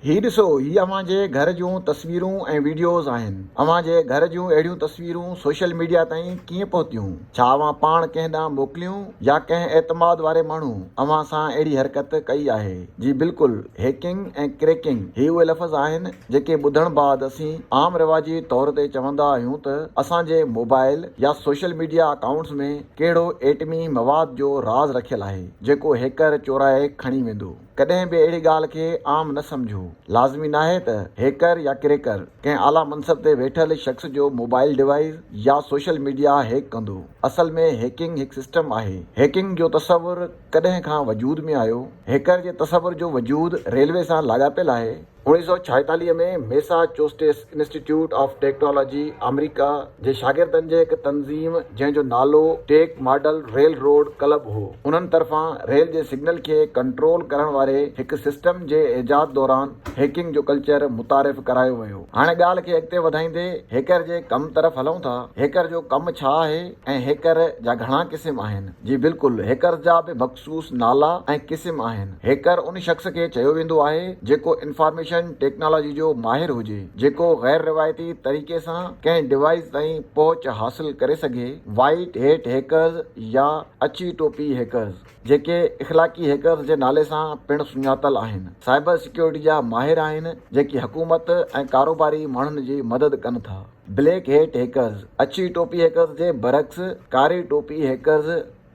هي ڏسو هي اوهان جي گهر جون تصويرون ۽ وڊيوز آهن اوهان جي گهر جون اهڙيون تصويرون سوشل ميڊيا تائين ڪيئن پهتيون ڇا اوهان پاڻ ڪنهن ڏانهن موڪليون يا ڪنهن اعتماد واري ماڻهو اوهان سان اهڙي حرڪت ڪئي آهي جي بلڪل هيڪنگ ۽ ڪريڪنگ هي اهي لفظ آهن جيڪي ٻڌڻ بعد اسين عام رواجي طور تي چوندا آهيون ته اسان جي موبائل يا سوشل ميڊيا اڪائونٽس ۾ ڪهڙو ايٽمي مواد جو راز رکيل آهي جيڪو هيڪر چورائي کڻي ويندو. ڪڏهن به اهڙي ڳالهه کي عام نه سمجهو. لازمي ناهي ته هيڪر يا ڪريڪر ڪنهن اعليٰ منصب تي ويٺل شخص جو موبائيل ڊوائيس يا سوشل ميڊيا هيڪ ڪندو. اصل ۾ هيڪنگ هڪ سسٽم آهي. هيڪنگ جو تصور ڪڏهن کان وجود ۾ آيو؟ هيڪر جي تصور جو وجود ريلوي سان لاڳاپيل آهي. اڻويهه سؤ ڇاهيتاليهه ۾ Massachusetts institute of technology آمريڪا جي شاگردن جي هڪ تنظيم جنهن جو نالو ٽيڪ ماڊل ريل روڊ ڪلب هو انهن طرفان ريل جي سگنل کي ڪنٽرول ڪرڻ واري هڪ سسٽم جي ايجاد دوران هيڪنگ جو ڪلچر متعارف ڪرايو ويو هاڻي ڳالهه کي اڳتي وڌائيندي هيڪر جي ڪم طرف هلون ٿا هيڪر جو ڪم ڇا آهي ۽ هيڪر جا گهڻا قسم آهن جي بلڪل هيڪرز جا به مخصوص نالا ۽ قسم آهن. هيڪر ان شخص کي چيو ويندو آهي جيڪو انفارميشن ٽيڪنالاجي جو ماهر هجي جيڪو غير روايتي طريقي سان ڪنهن ڊوائيس تائين پهچ حاصل ڪري سگهي، وائيٽ هيٽ هيڪرز يا اڇي ٽوپي هيڪرز جيڪي اخلاقي هيڪرز جي نالي سان پڻ سڃاتل آهن، سائبر سيڪيورٽي جا ماهر آهن جيڪي حڪومت ۽ ڪاروباري ماڻهن جي مدد ڪن ٿا. بليڪ هيٽ هيڪرز، اڇي ٽوپي هيڪرز جي برعڪس ڪاري ٽوپي هيڪرز،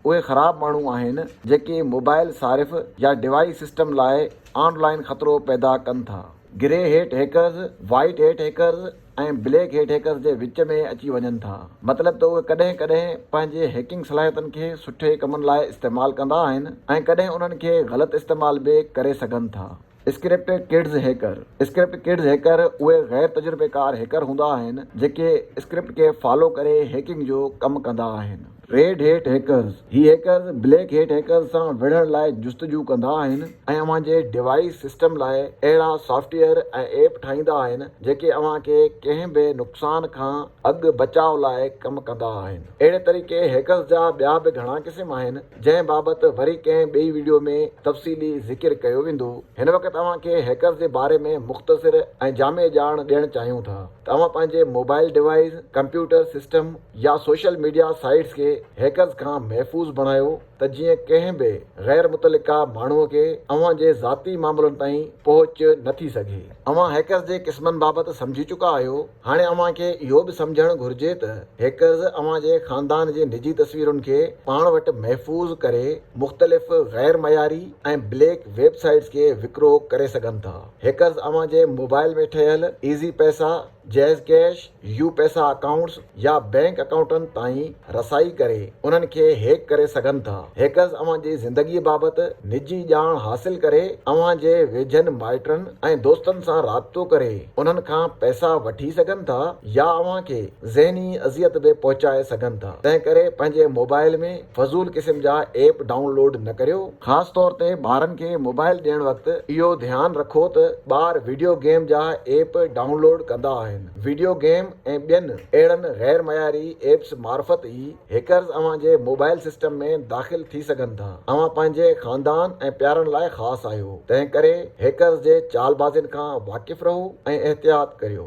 اهي خراب ماڻهو آهن جيڪي موبائل صارف يا ڊوائيس سسٽم لاء آن لائن خطرو پيدا ڪن ٿا. Grey hat hackers, white hat hackers ۽ black hat hackers جي وچ ۾ اچي وڃن ٿا. مطلب ته اهي ڪڏهن ڪڏهن پنهنجي هيڪنگ صلاحيتن کي سٺي ڪمن لاء استعمال ڪندا آهن ۽ ڪڏهن انهن کي غلط استعمال به ڪري سگهن ٿا. Script kids hacker, script kids hacker اهي غير تجربيڪار هيڪر هوندا آهن جيڪي اسڪرپٽ کي فالو ڪري هيڪنگ جو ڪم ڪندا آهن. ريڊ هيٽ هيڪرز، هي هيڪرز بليڪ هيٽ هيڪرز سان وڙهڻ لاء جستجو ڪندا آهن ۽ اوهان جي ڊوائيس سسٽم لاء اهڙا سافٽ ويئر ۽ ايپ ٺاهيندا آهن جيڪي اوهان کي ڪنهن به نقصان کان اڳ بچاء لاء ڪم ڪندا آهن. اهڙي طريقي هيڪرز جا ٻيا به گهڻا قسم آهن. جنهن بابت وري ڪنهن ٻئي ويڊيو ۾ تفصيلي ذڪر ڪيو ويندو. هن وقت اوهان کي هيڪرز جي باري ۾ مختصر ۽ جامع ڄاڻ ڏيڻ چاهيون ٿا ته اوهان پنهنجي موبائل ڊوائيس، ڪمپيوٽر سسٽم يا سوشل ميڊيا سائيٽس کي هيڪرز کان محفوظ بڻايو ته جيئن ڪنهن به غير متعلقه ماڻهو کي اوهان جي ذاتي معاملن تائين پهچ نه ٿي سگهي. اوهان هيڪرز جي قسمن بابت سمجهي چڪا آهيو. هاڻي اوهان کي اهو به سمجهڻ گهرجي ته هيڪرز اوهان جي خاندان جي نجي تصويرن کي پاڻ وٽ محفوظ ڪري مختلف غير معياري ۽ بليڪ ويب سائيٽس کي وڪرو ڪري سگهن ٿا. هيڪرز اوهان جي موبائل ۾ ٺهيل Easypaisa, JazzCash, UPaisa accounts يا بئنڪ اڪائونٽن تائين رسائي ڪري انهن کي هيڪ ڪري سگهن ٿا. هيڪرز اوهان جي زندگي بابت نجي ڄاڻ حاصل ڪري اوهان جي ويجهن مائٽن ۽ دوستن سان رابطو ڪري انهن کان پئسا وٺي سگهن ٿا يا اوهان کي ذهني اذيت به پهچائي سگهن ٿا تنهن ڪري پنهنجي موبائل ۾ فضول قسم جا ايپ ڊائون لوڊ نه ڪريو. خاص طور تي ٻارن کي موبائل ڏيڻ وقت اهو ڌيان رکو ته ٻار وڊيو گيم جا ايپ ڊائون لوڊ ڪندا آهن. وڊيو گيم ۽ ٻين اهڙن غير معياري ايپس معرفت ئي هيڪرز اوهان جي موبائل سسٽم ۾ داخل ٿي سگهن ٿا. اوهان پنهنجي خاندان ۽ پيارن لاء خاص آهيو، تنهنڪري هيڪرز جي چالبازين کان واقف رهو ۽ احتياط ڪريو.